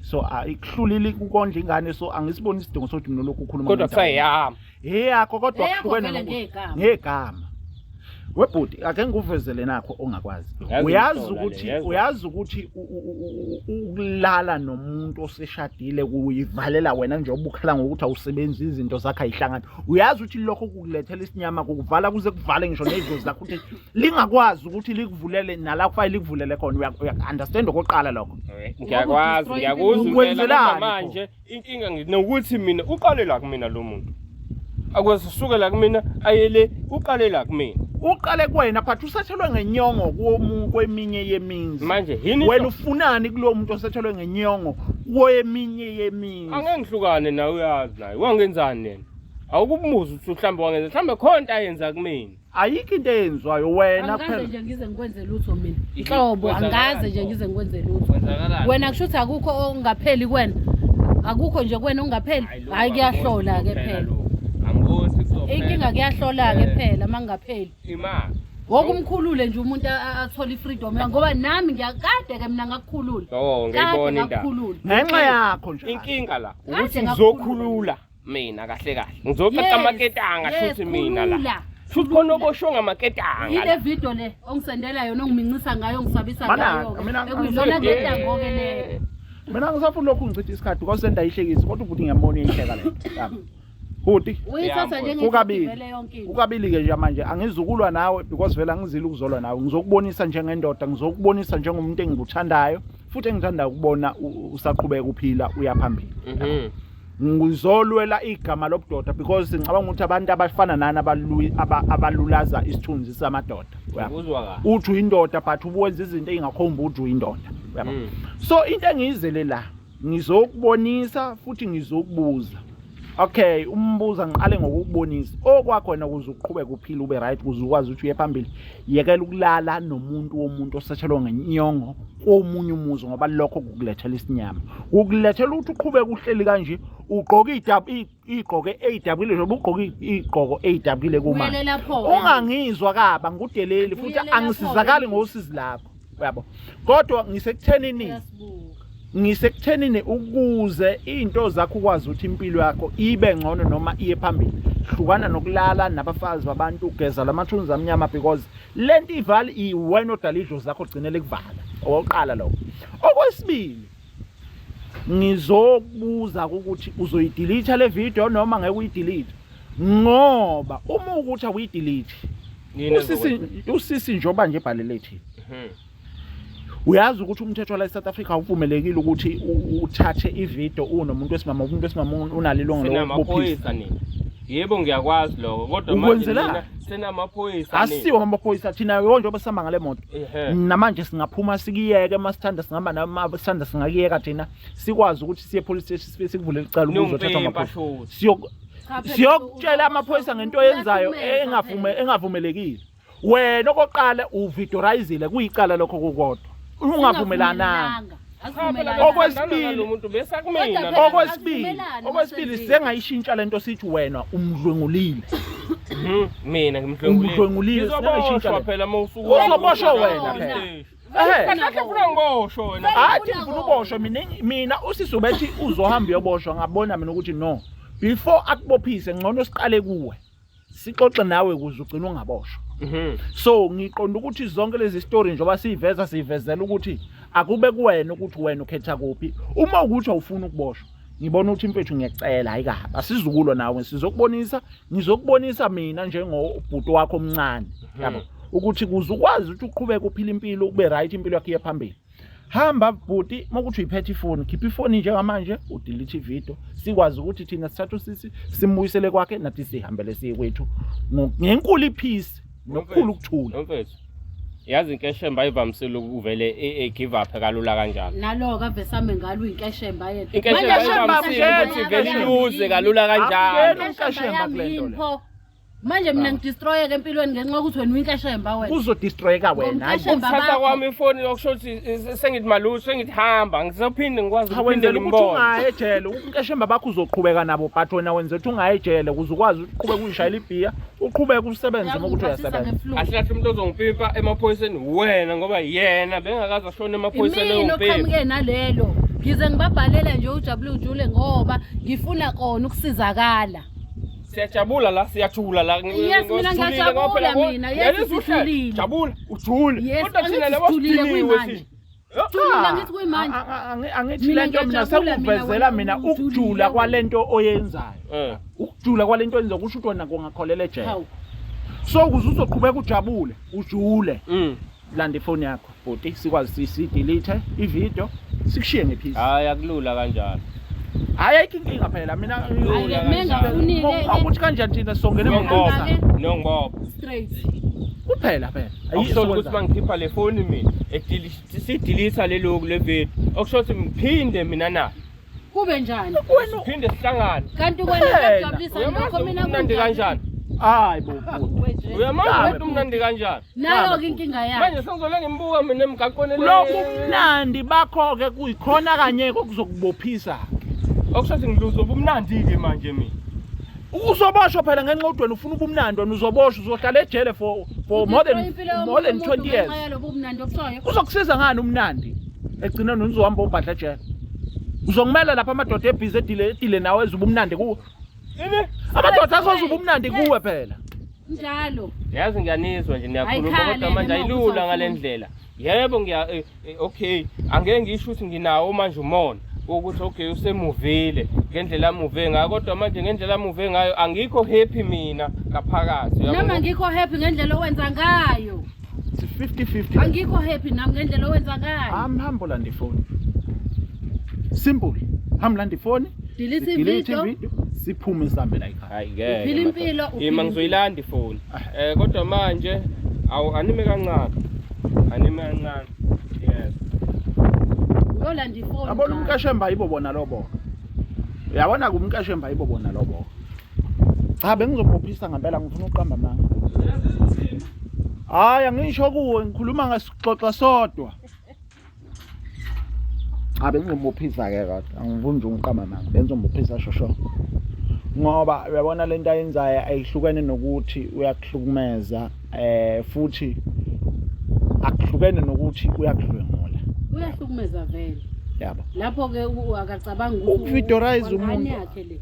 so ah, ikuhlulile ukondla ingane so angisiboni isidingo sokuthi mina lokhu ukhuluma kodwa kuthiwa eyami eyakho kodwa Eyakho kuhlukene vele nokuthi- ngegama. ngegama webhuti ake ngikuvezele nakho ongakwazi Yazi uyazi ngishona le, ukuthi yezwa. uyazi ukuthi u- u- u- u- ukulala nomuntu oseshadile kuyivalela wena nje ubukhala ngokuthi awusebenzi izinto zakhe ayihlangani uyazi ukuthi lokho kukulethela isinyama kukuvala kuze kuvale ngisho nezidlozi zakho ukuthi lingakwazi ukuthi likuvulele nala kufanele likuvulele khona uya- uya understand okokuqala lokho ngiyakwazi ngiyakuzwa impela Ukwenzelani kodwa manje inkinga ngi- nokuthi mina uqale la kumina lo muntu akwazi usuke la kumina ayele uqale la kumina uqale kuwena but usethelwe ngenyongo komu- kweminye yemizi manje yini wena ufunani kulowo muntu osethelwe ngenyongo kweminye yemizi angengihlukane nawe uyazi naye wangenzani yena awukumuzi ukuthi mhlawumbe wangenza mhlawumbe khona into ayenza kumina ayikho into eyenziwayo wena angikaze kuphela nje ngize ngikwenze lutho mina Yini? nhlobo Kwenzakalani angikaze nje pho? ngize ngikwenze lutho Kwenzakalani? wena kusho ukuthi akukho okungapheli kuwena akukho nje kuwena okungapheli Hayi, lokhu hhayi kuyahlola ke angiboni phela lokhu. Angiboni ukuthi kuzophela. inkinga kuyahlola ke Eh, phela uma kungapheli Ima. woke umkhulule nje umuntu a- a- athole i-freedom yakhe ngoba nami ngiyakade ke mina ngakukhulula Oh, kade ngiyibona indaba. ngakukhulula ngenxa yakho nje Inkinga la Kade ukuthi ngakukhulula. ngizokhulula. mina kahle kahle ngizoqaqa amaketanga shuthi mina la futhi khona obosho ngamaketanga yile video le ongisendela yona ongiminxisa ngayo ongisabisa ngayo ekuyizona ketango ke le mina ngisafuna lokhu ngichitha isikhathi kwasenda ihlekisi kodwa ubhuti ngiyambona ihleka le bhuti uyithatha njengekabili ukabili ke nje manje angizukulwa nawe because vele angizile ukuzolwa nawe ngizokubonisa njengendoda ngizokubonisa njengomuntu engikuthandayo futhi engithanda ukubona usaqhubeka uphila uyaphambili mhm. ngizolwela igama lobudoda because ngicabanga ukuthi abantu abafana nani abalulaza isithunzi samadoda uthi uyindoda but ubuwenza izinto ey'ngakhombi ukuthi uyindoda hmm. so into engiyizele la ngizokubonisa futhi ngizokubuza okay umbuza ngiqale ngokukubonisa okwakhona ukuze uqhubeke uphile ube right ukuze ukwazi ukuthi uye phambili yekela ukulala nomuntu womuntu osetshelwa ngenyongo komunye umuzi ngoba lokho kukulethela isinyama kukulethela ukuthi uqhubeke uhleli kanje ugqoke igqoke eyidabukile njengoba ugqoke igqoko eyidabukile kumanje ungangizwa kaba ngudeleli futhi angisizakali ngosizi lakho uyabo kodwa ngisekuthenini ngisekuthenini ukuze izinto zakho ukwazi ukuthi impilo yakho ibe ngcono noma iye phambili hlukana nokulala nabafazi babantu ugeza lamathunzi amnyama because lento ivali iwena odala idlo zakho gcinele kuvala okokuqala lokho okwesibili ngizokubuza ukuthi uzoyidelete le video noma ngeke uyidelete ngoba uma ukuthi awuyidelete usisi usisi njoba nje bhalele thina mhm. uyazi ukuthi umthetho la eSouth Africa awuvumelekile ukuthi uthathe ivideo unomuntu wesimama umuntu wesimama unalo ilungelo lokubophisa yebo ngiyakwazi lokho kodwa manje senamaphoyisa asiwo amaphoyisa thina yonke obesihamba ngale moto namanje singaphuma sikiyeke uma sithanda singama nama sithanda singakiyeka thina sikwazi ukuthi siye police station sikuvule licala ukuzothatha amaphoyisa siyokutshela amaphoyisa ngento yenzayo engavume engavumelekile wena okoqala uvidorizile kuyicala lokho kokodwa ungavumelananga okwesibili okwesibili okwesibili sengayishintsha lento sithi wena umdlwengulile hmm, mina ngimdlwengulile sengayishintsha phela uma usuku uzoboshwa wena phela Kanakhe funa ngiboshwe wena. Hathi ngifuna uboshwe mina mina usisi ubethi uzohamba uyoboshwa ngabona mina ukuthi no. Before akubophise ngcono siqale kuwe. sixoxe nawe ukuze ugcine ungaboshwa mhm. so ngiqonda ukuthi zonke lezi story njengoba siyiveza siyivezela ukuthi akube kuwena ukuthi wena ukhetha kuphi uma ukuthi awufuni ukuboshwa ngibona ukuthi mfethu ngiyacela hayi kabi asizukulo nawe sizokubonisa ngizokubonisa mina njengobhuti wakho omncane mhm. yabo ukuthi kuze ukwazi ukuthi uqhubeke uphile impilo ube right impilo yakho iye phambili hamba bhuti mokuthi uyiphethe ifoni khipha ifoni njengamanje udelete ividiyo sikwazi ukuthi thina sithathe usisi simbuyisele kwakhe nathi sihambele siye kwethu ngenkulu iphisi nokukhulu ukuthula mfethu yazi inkeshemba ayivamisile ukuvele e-give e-, up kalula kanjalo naloke avesame ngalo inkeshemba yena inkeshemba ayivamisile ukuthi vele iluze kalula kanjalo inkeshemba kule nto manje mina ngidistroyeke empilweni ngenxa yokuthi wena uyinkashemba wena uzodistroyeka wena Hayi, Ngomkashemba ukuthatha bakho. kwami ifoni yokusho ukuthi eh, sengithi malusi sengithi hamba ngizophinde ngikwazi cha ukuphinde wenzela ukuthi ngimbone ungayi ejele unkeshemba bakho uzoqhubeka nabo but wena wenzela ukuthi ungayi ejele ukuze ukwazi uqhubeka uyishayela ibhiya uqhubeke usebenze uma ukuthi Uyakuphathisa uyasebenza nge-flu. kahle kahle umuntu ozongipimpa emaphoyiseni wena ngoba yena bengakaze ashone emaphoyiseni imini eyompimpa oqhamuke nalelo ngize ngibabhalele nje ujabule ujule ngoba ngifuna kona ukusizakala Siyajabula la, siyajula la. Yes, mina ngiyajabula mina. Yes, sijulile. Jabula, ujule. Kodwa thina labo sidiniwe thina. Angithi le nto mina sekuvezela mina ukujula kwale nto oyenzayo. Eh. Ukujula kwale nto oyenzayo kusho ukuthi wena kungakholela ejele. So kuze uzoqhubeka ujabule, ujule. Mm. landa ifoni yakho bhuti sikwazi sidelete ivideo sikushiye ngephisi hayi akulula kanjalo hayi ayikho inkinga phela mina ukuthi kanjani thina songene ngoba nongoba straight kuphela phela akusho ukuthi mangikhipha le foni mina sidelete leloku le video okusho ukuthi ngiphinde mina na Kube njani? Siphinde sihlangane. Kanti kwena kuyajabulisa lokho mina kumnandi kanjani? Hayi bo. Uyamazi ukuthi umnandi kanjani? Nayo ke inkinga yakhe. Manje sengizole ngimbuka mina emgaqweni le. Lokhu mnandi bakho ke kuyikhona kanye okuzokubophisa. Okushathi ngiluzo ubumnandi ke manje mina. Uzoboshwa phela ngenxa udweni ufuna ubumnandi wena uzoboshwa uzohlala ejele for for more than more than 20 years. Uzokusiza ngani umnandi? egcine nonzi uhamba obhadla ejele uzongimela lapha amadoda ebhizi edile edile nawe ezuba umnandi kuwe amadoda azoza ubumnandi kuwe phela njalo yazi ngiyanizwa nje niyakhuluma kodwa manje ayilula ngale ndlela yebo ngiya eh, eh, okay angeke ngisho ukuthi nginawo manje umona ukuthi okay usemuvile ngendlela amuve ngayo kodwa manje ngendlela amuve ngayo angikho happy mina ngaphakathi noma ngikho happy ngendlela owenza ngayo 50-50 angikho happy nami ngendlela owenza ngayo hamba hamba ulanda ifoni simple hamba landa ifoni delete ivideo siphume sihambe la ekhaya hayi ngeke uphila impilo ima ngizoyilanda ifoni ah. eh kodwa manje awu anime kancane anime kancane yes uyolanda ifoni abona umkashemba yibo bona lobo uyabona kumkashemba yibo bona lobo cha bengizobophisa ngempela ngifuna uqamba amanga hayi angisho kuwe ngikhuluma ngesixoxa sodwa cha bengizobophisa ke kodwa angifuni nje uqamba amanga bengizobophisa shosho ngoba uyabona lento ayenzayo ayihlukene nokuthi uyakuhlukumeza eh futhi akuhlukene nokuthi uyakudlwengula uyahlukumeza vele yabo lapho ke akacabanga ukuthi uvidorize umuntu yakhe le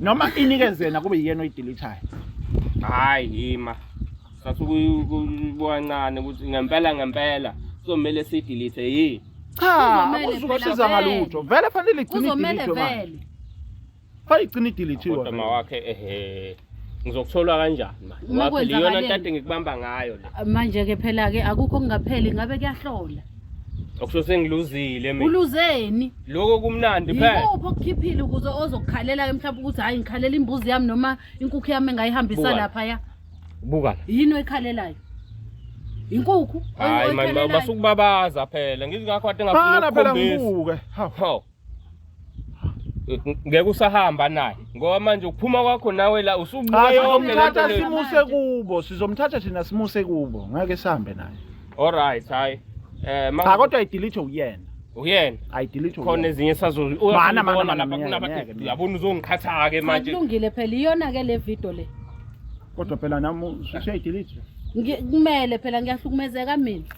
noma inikeze yena kube yiyena oyidilithayo hayi yima sasukuyibwancane ukuthi ngempela ngempela kuzomele sidilithe yini cha Kuzomele uzukosiza phela ngalutho vele fanele igcine kuzomele idilithwe manje vele fanele igcine idilithiwe kodwa ma wakhe ehe ngizokutholwa kanjani manje Uma ngoba phela iyona kwenzakale- ntate ngikubamba ngayo le manje-ke phela-ke akukho okungapheli ngabe kuyahlola Okusho sengiluzile mina. Uluzeni? Lokho kumnandi phela. Yikuphi okukhiphile ukuze ozokukhalela ke mhlawumbe ukuthi hayi ngikhalela imbuzi yami noma inkukhu yami engayihambisa Buka. lapha ya. Buka la. Yini oyikhalelayo? Inkukhu. Hayi manje basukubabaza phela. Ngizingakho kade ngafuna Bhala phela ukukhombisa. ngibuke. Hawu. Hawu. ngeke usahamba naye ngoba manje ukuphuma kwakho nawe la usubuya yonke lento sizomthatha simuse kubo sizomthatha thina simuse kubo ngeke sihambe naye alright hayi eh cha kodwa idelete uyena uyena ayidelete khona ezinye sazozibona mana yabona uzongiqhatha ke manje kulungile phela iyona ke le video le kodwa phela nami usuyayidelete kumele phela ngiyahlukumezeka mina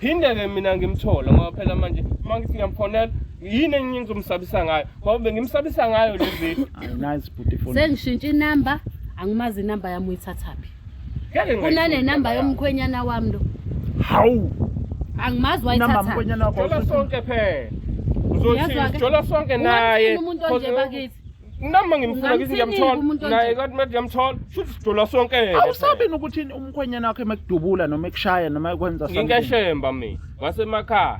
phinde-ke mina ngimthole ngoba phela manje uma ngithi ngiyamfonela yini enye engizomsabisa ngayo ngoba bengimsabisa ngayo lezi Nice bhuti phone. sengishintshe inamba angimazi inamba yami uyithathaphi ngeke kunane namba yomkhwenyana wami lo Hawu. angimazi Namba wayithathaphi mkhwenyana wakho. jola sonke phela Uyazwa-ke? uzothi jola sonke naye Ungamthini umuntu onje Cause- bakithi nami uma ngimfuna ngithi ngiyamthola naye kanti manje ngiyamthola shuthi sidola sonke yena awusabi nokuthi umkhwenyana wakhe mekudubula noma ekushaya noma ekwenza something ngikeshemba mina wasemakhaya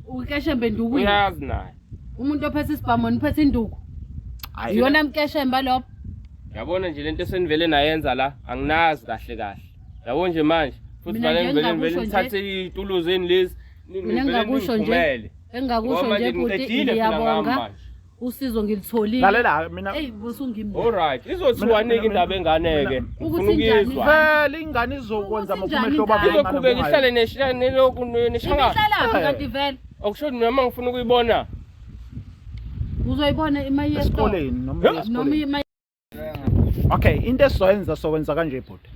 ukeshembe nduku uyazi naye umuntu ophethe isibhamu niphethe induku iyona mkeshemba lopho yabona nje lento esenivele nayenza la anginazi kahle kahle yabo nje manje futhi vale ngivele ngivele ngithathe ituluzeni lezi mina ngakusho nje engakusho nje bhuti ngiyabonga usizo ngilitholile lalela mina eyi busungimbi alright izothiwa nike indaba enganeke ufuna ukizwa phela ingane izokwenza makumehlo baba izoqhubeka ihlale neshaya neloku neshanga ihlala kanti vele okusho noma ngifuna ukuyibona uzoyibona imayeskoleni noma imayeskoleni okay into esizoyenza sokwenza kanje bhuti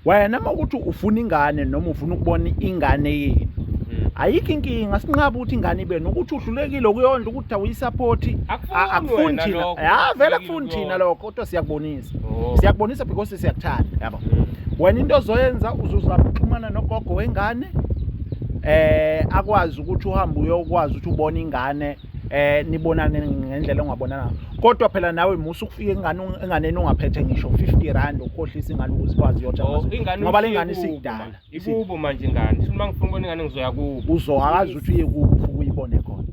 wena uma ukuthi ufuna ingane noma ufuna ukubona ingane yini hmm. ayikho inkinga sinqaba ukuthi ingane ibe nokuthi uhlulekile ukuyondla ukuthi awuyisaphothi akufuni thina ya vele akufuni thina lokho kodwa siyakubonisa oh. siyakubonisa because siyakuthanda yabo hmm. wena into ozoyenza uzozama ukuxhumana nogogo wengane eh akwazi ukuthi uhambe uyokwazi ukuthi ubone ingane eh nibonane ngendlela ongabonana kodwa phela nawe musa ukufika ingane enganeni ungaphethe ngisho 50 rand ukhohlisa ingane ukuthi kwazi yotsha oh, ngoba lengane isidala ikubo manje ingane sifuna mangifuna ubona ingane ngizoya kubo uzohakaza ukuthi uye kubo ukuyibone khona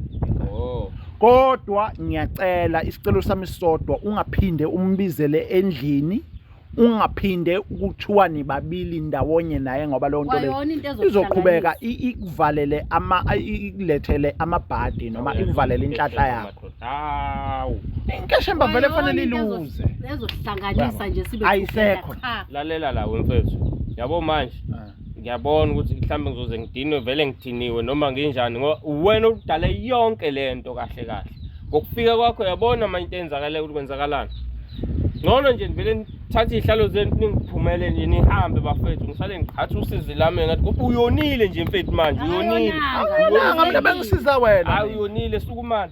oh kodwa ngiyacela isicelo sami sodwa ungaphinde umbizele endlini ungaphinde ukuthiwa nibabili ndawonye naye ngoba leyo nto leyo Kwayona into ezokuhlanganisa. izoqhubeka i- ikuvalele ama i- ikulethele amabhadi noma ikuvalele inhlahla yakho hawu inkeshemba vele Kwayona fanele into ezo- iluze ezohlanganisa nje sibe Ayisekho. siqeda qha. lalela la wemfethu yabo manje ngiyabona ukuthi mhlawumbe ngizoze ngidinwe vele ngidiniwe noma nginjani ngoba uwena oludale yonke le nto kahle kahle ngokufika kwakho yabona manje into eyenzakalayo ukuthi kwenzakalani ngcono nje ngivele thatha iy'hlalo zenu ningiphumele nje nihambe bafethu ngisale ngiqhatha usizi lami ngathi kuba uyonile nje mfethu manje uyonile Awuyonanga, mina bengisiza wena hayi uyonile sukumane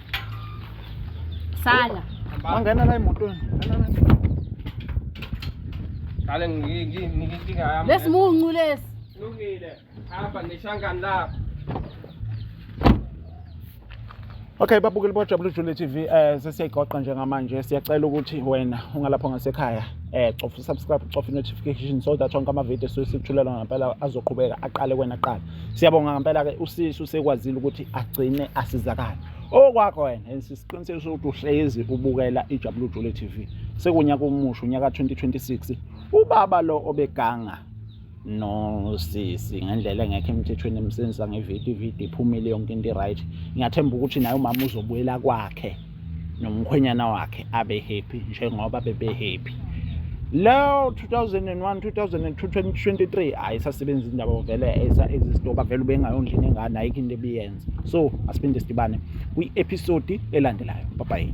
Sala. Wangena la emotweni. Kale ngikinga yami. Lesimuncu lesi. Lungile. Hamba ngishangani lapha. Okay babukeli bojabula ujule TV eh sesiyayigoqa njengamanje siyacela ukuthi wena ungalapho ngasekhaya eh cofa subscribe cofa notification so that wonke ama video sesithulela ngempela azoqhubeka aqale kwena qala Siyabonga ngempela ke usisi usekwazile ukuthi agcine asizakala. Okwakho wena and sisiqinisekisa ukuthi uhlezi ubukela iJabulu Jule TV. Sekunyaka omusha unyaka 2026. Ubaba lo obeganga no sisi ngendlela engekho emthethweni emsenzisa ngevidiyo ividiyo iphumile yonke into right ngiyathemba ukuthi naye umama uzobuyela kwakhe nomkhwenyana wakhe abe happy njengoba bebe happy leyo 2001 2002 2023 hayi isasebenza indaba vele esa exist oba vele ubengayondla ingane ayikho into ebiyenza so asiphinde sidibane kwi episode elandelayo bye bye